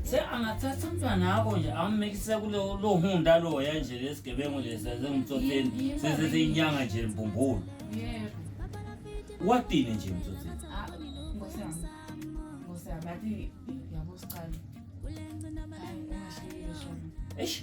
Se angathatha umntwana akho nje ammekise kulo lo hunda lo ya nje lesigebengu lesi sengimtsotheni sese seyinyanga nje mbumbulu. Yebo. Watini nje mtsotheni. Ah, Nkosi yami. Nkosi yami athi yabo siqala. Hayi, ungashiyi shona. Eish.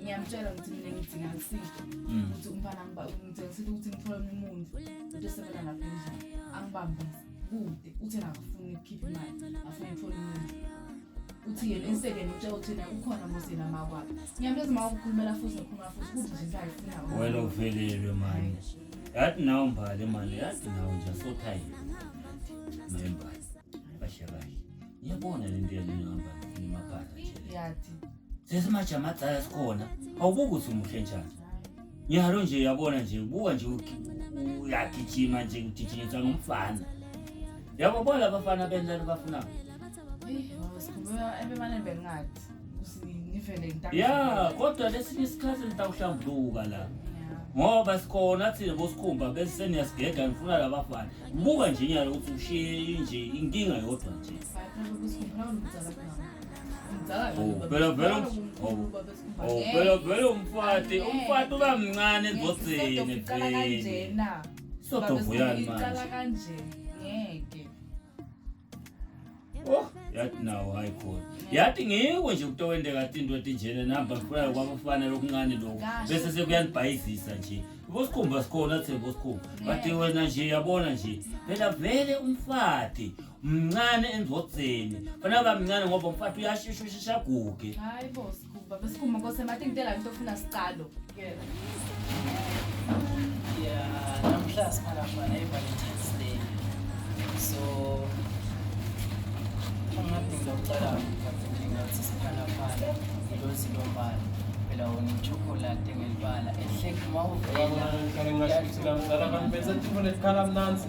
ngiyamtshela ukuthi mina ngidinga ngiside mm. ukuthi umfana ngidinga ngiside ukuthi ngithole omunye umuntu ukuthi esebenza lapha endlini angibambise kude uthi nakafuni ukukhipha imali afuna ukuthola umuntu uthi yena esekeni utshela ukuthi na ukhona mosina makwabo ngiyamtshela ukuthi ma ukhulumela futhi ngikhulumela futhi kuthi nje ngayifuna wena uvelelwe manje Yathi nawo mbali manje, yathi nawo nje so tired. Mbali. Bashe kahle. Ngiyabona le nto yalena mbali ngimabhala nje. Yathi. Sesimaja amacala sikhona. Awubuki ukuthi umuhle njani. Ngiyalo nje yabona nje buka nje uyagijima nje ugijinyiswa ngumfana. Yabo bona abafana benza abafuna. Eh, sikhuluma ebemane bengathi. ya kodwa lesinye isikhathi nitawuhlambuluka la ngoba sikhona thina bosikhumba bese seniyasigega ngifuna labafana buka nje nyalo ukuthi ushiye inje inkinga yodwa nje phela vele phela vele umfati umfati uba mncane ezosini vele sodovuyani manje Oh, yathi nawo hayi khona yathi ngiko nje ukuthi owendeka athi into etinjena namba kufuna kwabafanele okuncane lokho bese sekuyanibhayizisa nje bosikhumba sikhona athe bosikhumba bathi wena nje yabona nje phela vele umfati mncane endodzeni fanele bamncane ngoba umfati uyashesha ushesha aguge Hayi boss. Baba sikhuma ngose mathi ngitela into ofuna siqalo. Yeah. Yeah, namhla siphaka khona iValentine's Day. So ungadinga ucela ngaphendinga ukuthi siphana phana ngilozi lombala phela wona ichocolate ngelibala ehleki uma uvela Kale ngasho ukuthi namzala abantu benza tifo lesikhala mnanzi.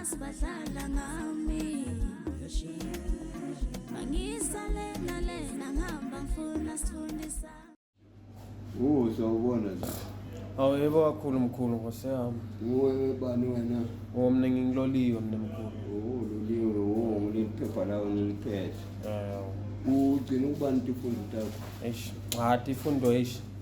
asibadlala ngami mangisale nalena ngihamba ngifuna sifundisa uzwa ubona nje awu yebo kakhulu mkhulu nkosi yami nguwe bani wena o mna ngingiloliwe mna mkhulu uloliwe wo ngiliphepha lawo ngiliphethe um ugcina ukubani tifundo takho eish cha tifundo eish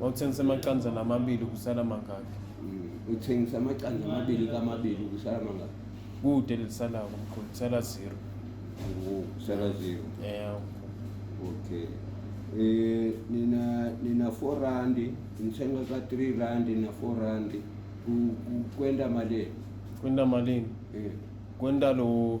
wawuthengisa amaqanza namabili kusala mangaki mm, uthengisa amaqanza amabili kamabili kusala mangaki kude lisalako mkhulu kusala zero kusala zero yeah okay eh nina nina 4 rand nithenga ka 3 rand na 4 rand kwenda malini kwenda malini eh kwenda lo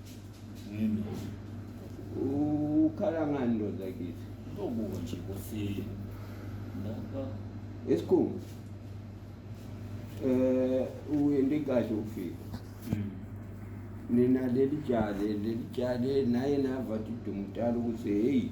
Yini? ukhala ngani ndoda kithi Uzobuka nje kosini. Lapha. esikhungu eh uyende kahle ukufika Mm. nina leli jale leli jale naye navathi dumtala ukuthi heyi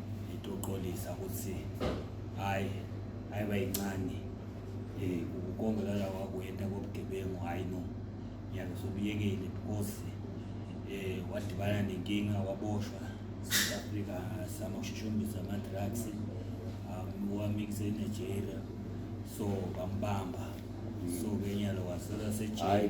itoqolisa ukuthi hayi hayi bayincane eh ukonga lala wakwenda kobugebengu hayi no yabe sobuyekile because eh wadibana nenkinga waboshwa South Africa sama ushushumbisa ama drugs um wamikise Nigeria so bambamba so kenyalo wasela sejele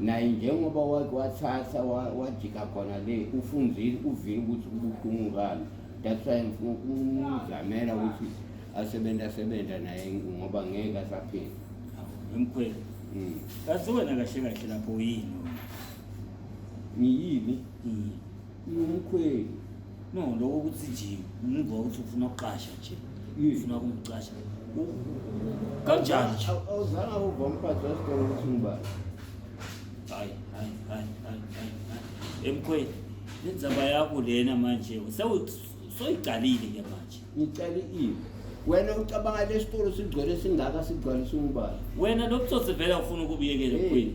naye njengoba wake wathatha wajika khona le ufunzile uvile ukuthi kubuhlungu kani that's why ngifuna ukumzamela ukuthi asebenza asebenza naye ngoba ngeke asaphila emkhweli mm. kazi wena kahle kahle lapho yini ngiyini mm. Umkhweli. No, lokho ukuthi nje umuzwa ukuthi ufuna ukuqasha nje. Uyifuna kumqasha. Kanjani nje? Awuzanga uva umphathi wesitolo ukuthi ngibani. Hayi, hayi, hayi, hayi, hayi. Emkhweli. Lenzaba yakho lena manje. Sewuthi soyiqalile ke manje ngicela iwe wena ucabanga lesitolo sigcwele singaka sigcwalisa umbala wena lobutsotsi vele ufuna ukubuyekela queen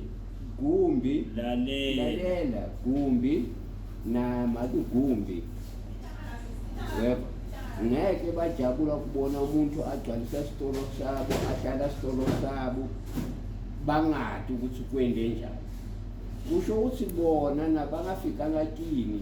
gumbi lalela lalela gumbi nama kugumbi yebo ngeke bajabula kubona umuntu agcwalisa isitolo sabo ahlala isitolo sabo bangadi ukuthi kwende njani kusho ukuthi bona nabangafikanga kini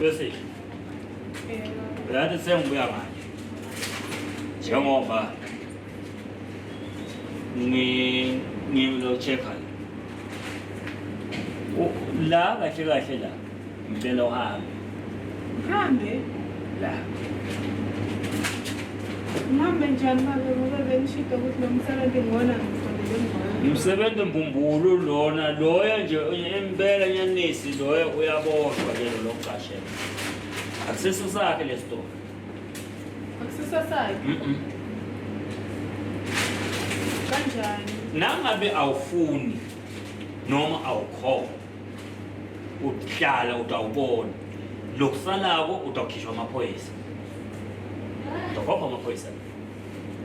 Bese. Yathi sengibuya manje. Njengoba ngi ngizochecka la kahle kahle la Ngicela uhambe. Ngihambe? La. Ngihambe njani babe ngoba bengishida ukuthi lo msebenzi ngona ngifanele ngona. Umsebenzi mbumbulu lona loyo nje impela nyanisi loyo uyaboshwa ke lo lokucashela. Akusiso sakhe lesitolo. Akusiso sakhe? Mhm. Kanjani? Nangabe awufuni noma awukhona uhlala utawubona lokusalako utawukhishwa amaphoyisa utokhomba amaphoyisa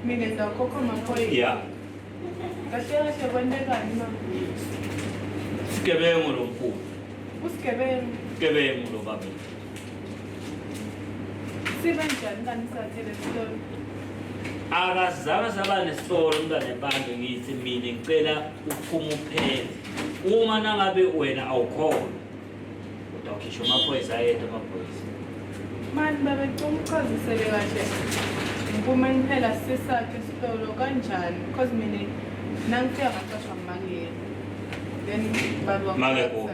mina ngidakhokha amaphoyisa ya kahle kahle kwentekani ma sigebengu lo mkhulu usigebengu sigebengu lo babe sibe njani kanti sathele sitolo akazange saba nesitolo umntwana ebantu ngithi mina ngicela uphuma uphele Uma nangabe wena awukhona udawukhishwa amaphoyisa ayedwa amaphoyisa. Mani babecela uchazisele kahle ngiphume niphela sisakhe isitolo kanjani because mina nangifika ngacashwa mangiyena then baba Make kuwe.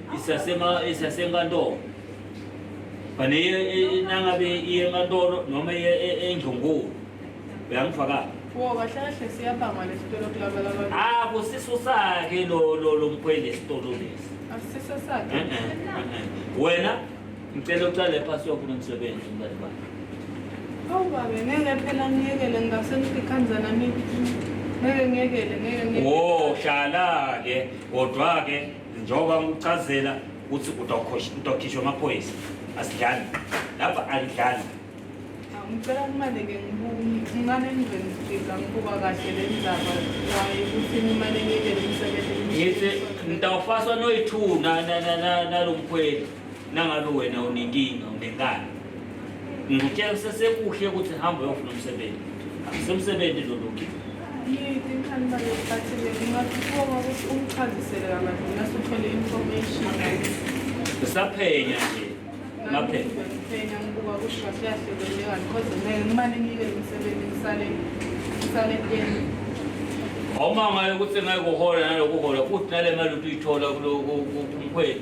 isasenkantolo fane nangabe iye enkantolo noma iye endlungulu uyangifakala akusiso sakhe lo mkhweli esitolo lesi wena ngicela ucale phasi wafuna umsebenzi umntane bakhe awu babe ngeke phela ngiyekele ngingase ngidikhanzana ngeke ngiyekele ngeke ngeke wo shala-ke kodwa-ke njengoba ngikuchazela ukuthi utokhishwa amaphoyisa asidlali lapha alidlali ngicela kumaleke ngimane ngizoyifika ngikuba kahle le ndaba waye ukuthi ngimane ngiyele umsebenzi ngithi ngitawufaswa noyi-two nalo mkhweli Nangabe wena unenkinga unengane, ngikutshela kusesekuhle ukuthi hamba uyofuna umsebenzi, akusemsebenzi lolungi usaphenya nje ngaphela ngibuka kusho siyahleleleka because ngeke ngimane ngike umsebenzi ngisale ngisale kuyena awumangayo ukuthi ngeke uhola nalokuhola futhi nale mali ukuthi uyithola kumkhweli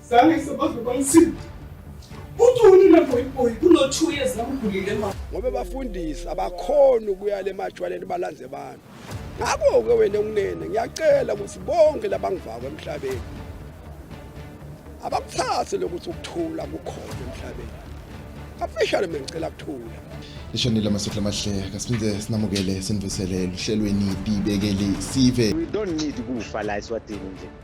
Zange sebaze bangisiza. Uthi unina boy boy kuno 2 years amgulile mama. Ngoba bafundisi abakhona ukuya le majwaleni balanze abantu. Ngakho ke wena unene ngiyacela ukuthi bonke labangivako emhlabeni abakuthathe lokuthi ukuthula kukhona emhlabeni. Afishane mengicela kuthula. Lishonile amasotla amahle kasiphinde sinamukele sinivusele luhlelweni ibekele sive. We don't need kufa la eswatini nje.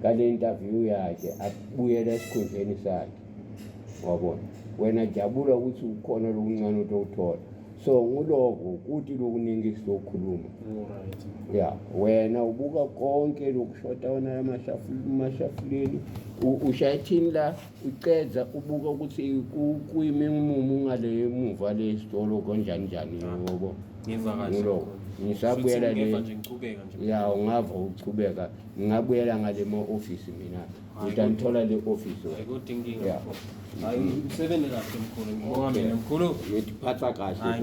ngale interview yakhe abuyela esikhundleni sakhe wabona wena jabula ukuthi ukhona lokuncane ukuthi okuthola so nguloko kuti lokuningi sizokhuluma ya wena ubuka konke lokushoda wona amashafuleni ushayithini la ucedza ubuka ukuthi kuyime umumu ngale emuva le sitolo konjani njani ngobo ngiloko ngisabuyela le ya ungava uqhubeka ngingabuyela ngale ma-ofisi mina ngida ngithola le ofisi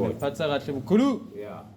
ngiphatha kahle mkhulu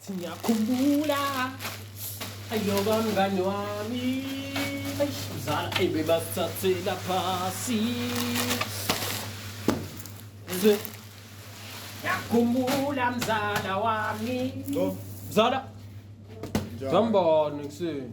Ngiyakhumbula ayoba mngani wami mzala ebebasithathela phasi zwe ngiyakhumbula mzala wami mzala zambani kuseni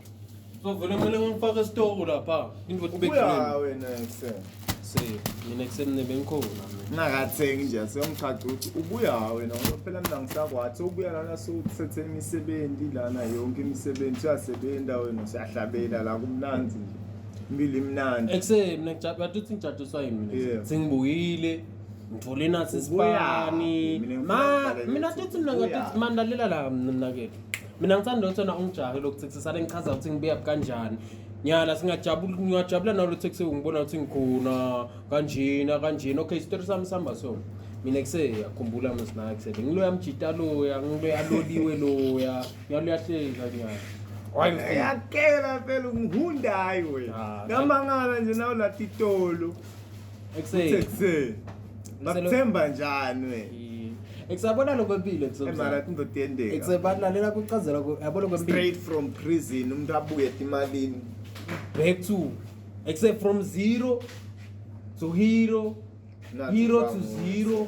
Uzovele kumele ngimfake esitoko lapha. Into ukuthi Ubuya bekugcina. wena ekuseni. Se, mina kusemne bengikhona mina. Ngingakathengi nje siyomchaca ukuthi ubuya wena ngoba phela mina ngisakwathi ubuya lana sewuthethe imisebenzi lana yonke imisebenzi uyasebenza wena siyahlabela la kumnandi nje. Impilo imnandi. Ekuse mina ngija- bathi uthi ngijadiswa yini mina. Yeah. Sengibuyile. Ngithole nathi Ubuya. isipani. Mina ngifuna Ma, ukubhalela mina ukuthi tothi mina ngathi ubuya. mandalela la mina nakethu. mina ngithanda ukuthi wena ungijahe lokhu sekusisale ngichaza ukuthi ngibuya kanjani nyala singajabula ngingajabula nawe luthe kuse ungibona ukuthi ngikhona kanjena kanjena okay isitori sami sihamba so mina kuse yakhumbula msina kuse ngiloya mjita loya ngiloya aloliwe loya ngiyaluya hleka nyala yakela phela ungihundayo wena namangala nje nawo latitolo ekuseni ekuseni bakuthemba njani we ekusabona lokho empilo ekusomara indoda yendeka ekusebalalela kucazela yabo lokho empilo straight from prison umuntu abuye emalini back to except from zero to hero hero to zero